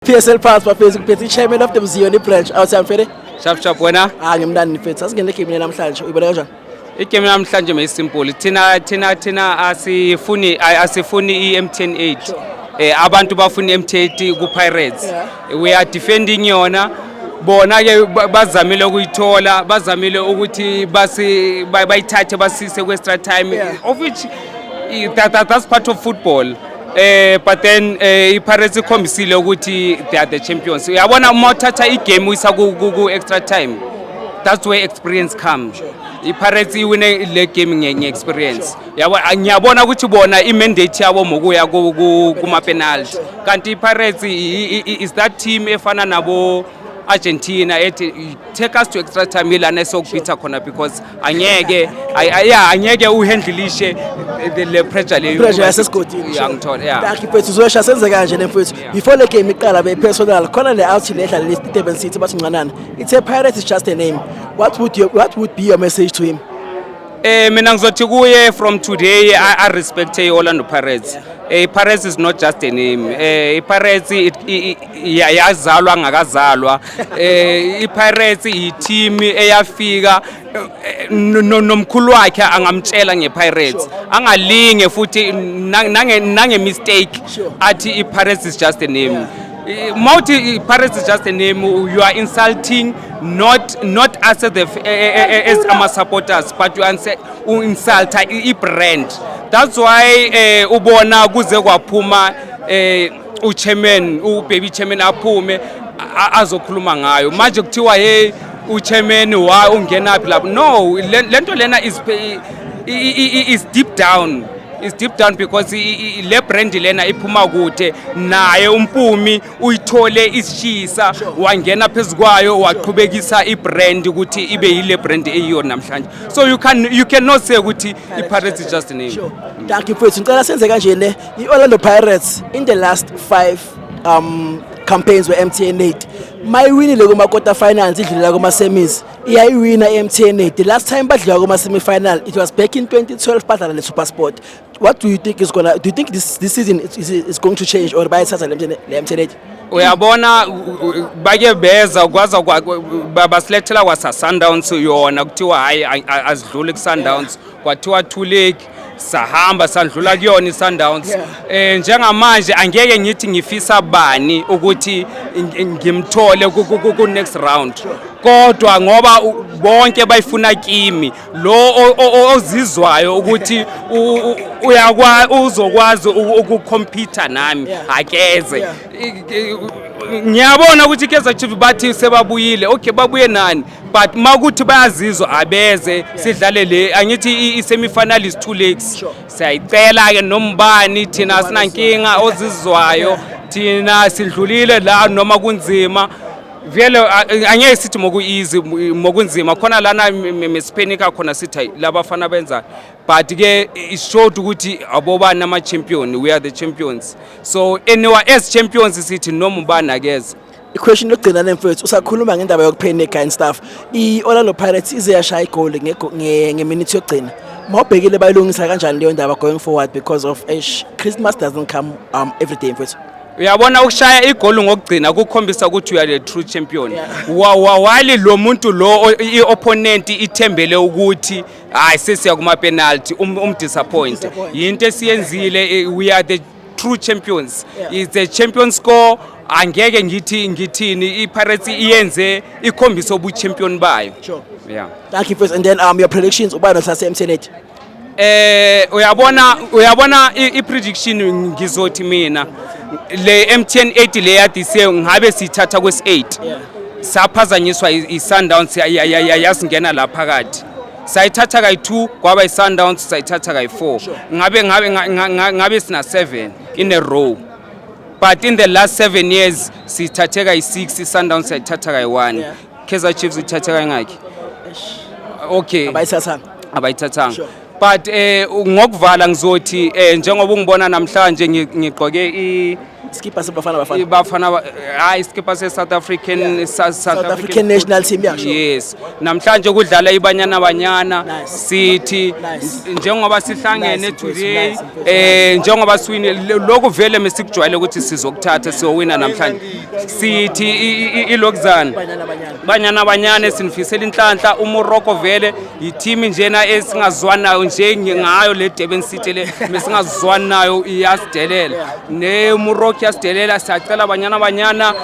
PSL Pals bafethu ngiphethe ichairman of the Mziyoni branch awuthami fede Shap shap wena ah ngimnandi mfethu asingene game namhlanje uyibona kanjani igame namhlanje mayisimple thina thina thina asifuni ay- asifuni i-mtn 8 eh, abantu bafuna i-mtn 8 ku-pirates we are defending yona bona ke ba- bazamile ukuyithola bazamile ukuthi basi ba- bayithathe basise kwe-extra time Yeah. of which eh, that, that, that's part of football Eh but then eh iPirates ikhombisile ukuthi they are the champions. Uyabona uma uthatha igame uyisa ku ku- ku extra time. That's where experience comes. IPirates iwine le game nge nge experience. Yabo ngiyabona ukuthi bona imandate yabo mokuya ku ku- kuma penalty. Kanti iPirates i- i- i- is that team efana nabo Argentina ethi take us to extra time ilana esokubhitha khona because angeke ay- ay- yeah, angeke uhandlishe the- le pressure leyo pressure yasesigodini Yeah, ngithola yeah Dakhi mfethu uzoyesha senze kanje le mfethu Yeah. before le game iqala beyipersonal khona le out le edlala le Durban City bathi ncanana it's a pirate is just a name what would you what would be your message to him Eh mina ngizothi kuye from today I, I respect i-Orlando Pirates. Eh Pirates is not just a name. Eh Pirates it, it, Ya- yazalwa angakazalwa eh iPirates yiteam eyafika eh, no- no- nomkhulu wakhe angamtshela ngePirates angalinge futhi na- nange nange mistake athi iPirates is just a name Eh, Mawuthi iPirates is just a name you are insulting not not us as the f- eh, eh, eh, eh, as ama supporters but you are inse- u insulta i i brand that's why eh ubona kuze kwaphuma eh uchairman ubaby chairman aphume azokhuluma ngayo manje kuthiwa hey uchairman wa ungenaphi lapho no lento lena is is deep down is deep down because le brand lena iphuma kude naye umpumi uyithole isishisa wangena phezukwayo waqhubekisa ibrand ukuthi ibe yile brand eyiyo namhlanje so you can you cannot say ukuthi ipirates is just a name sure. dankie mfethu ngicela senze kanje ne I-Orlando Pirates in the last five um, campaigns we-mtn aid mayiwinile kuma-quarter finals idlulela kuma-semis iyayiwina i-mtn aid the last time badliwa kuma-semifinal it was back in 2012 badlala ne-supersport what do you think is gonna do you think this, this season is, is, is going to change or bayithatha le-mtn aid uyabona bake beza kwaza basilethela kwasasundowns yona kuthiwa hhayi azidluli kusundowns kwathiwa two league sahamba sandlula kuyona iSundowns yeah. eh njengamanje angeke ngithi ngifisa bani ukuthi ngimthole ku next round kodwa ngoba bonke bayifuna kimi lo ozizwayo ukuthi uyakwa uzokwazi ukucompete nami akeze ngiyabona ukuthi iKaizer Chiefs bathi sebabuyile okay babuye nani but makuthi bayazizwa abeze sidlale le angithi i-semifinal is two legs siyayicela ke nombani thina sinankinga ozizwayo thina sidlulile la noma kunzima vele angeke sithi mokuyizi mokunzima khona lana mesiphenika khona sithi labafana benza but ke it showed ukuthi abobani ama champion we are the champions so anyway as champions sithi noma ubani akeze Iquestion lokugcina le mfethu usakhuluma ngendaba yokuphena egain staff. I-Orlando Pirates ize yashaya igoli ngego- nge- ngeminithi yokugcina. Mawubhekile bayilungisa kanjani leyo ndaba going forward because of eish Christmas doesn't come um every day mfethu. uyabona ukushaya igoli ngokugcina kukhombisa ukuthi you are the true champion Wa- wa- wali lo muntu lo o- i-opponent ithembele ukuthi hayi sesiya kuma-penalty um- umdisappoint yinto esiyenzile eh, we are the true champions yeah. it's a champion score angeke ngithi ngithini iPirates iyenze ikhombisa ubuchampion bayo sure. yeah thank you first and then um your predictions ubani osase emsenet eh uyabona uyabona iprediction ngizothi mina le MTN 8 le yadise ngabe sithatha kwes 8 saphazanyiswa isundowns yasingena la phakathi sayithatha kayi-2 kwaba i-sundowns sayithatha kayi-4 ngabe ngabe ngabe sina-7 in a row but in the last seven years sithathe kayi-6 i-sundowns sayithatha kayi-1 yeah. kaizer chiefs ithathe kayingakhi okay abayithathanga abayithathanga sure. but eh ngokuvala ngizothi eh njengoba ungibona namhlanje ngigqoke i Skipper sebafana bafana. Ibafana ba- hayi iskipper se South African Yeah. sa- South African national team yasho. Yes. Namhlanje kudlala ibanyana banyana Nice. City Nice. n- njengoba sihlangene Nice, mfethu, today nice, mfethu. eh njengoba siwine lo- lokhu vele mesikujwayele ukuthi sizokuthatha siyowina namhlanje. City i- i- i- ilokuzana. Banyana banyana. Banyana Banyane sinifisela inhlanhla uMorocco vele yiteam njena esingazwani nayo nje ngayo le Durban City le mesingazwani nayo iyasidelela ne Morocco yasidelela siyacela Banyana Banyana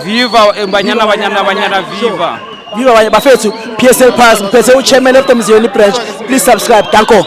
viva eh, Banyana Banyana Banyana viva viva bafethu PSL Pass ngiphethe uchairman of the Mziyeni branch please subscribe danko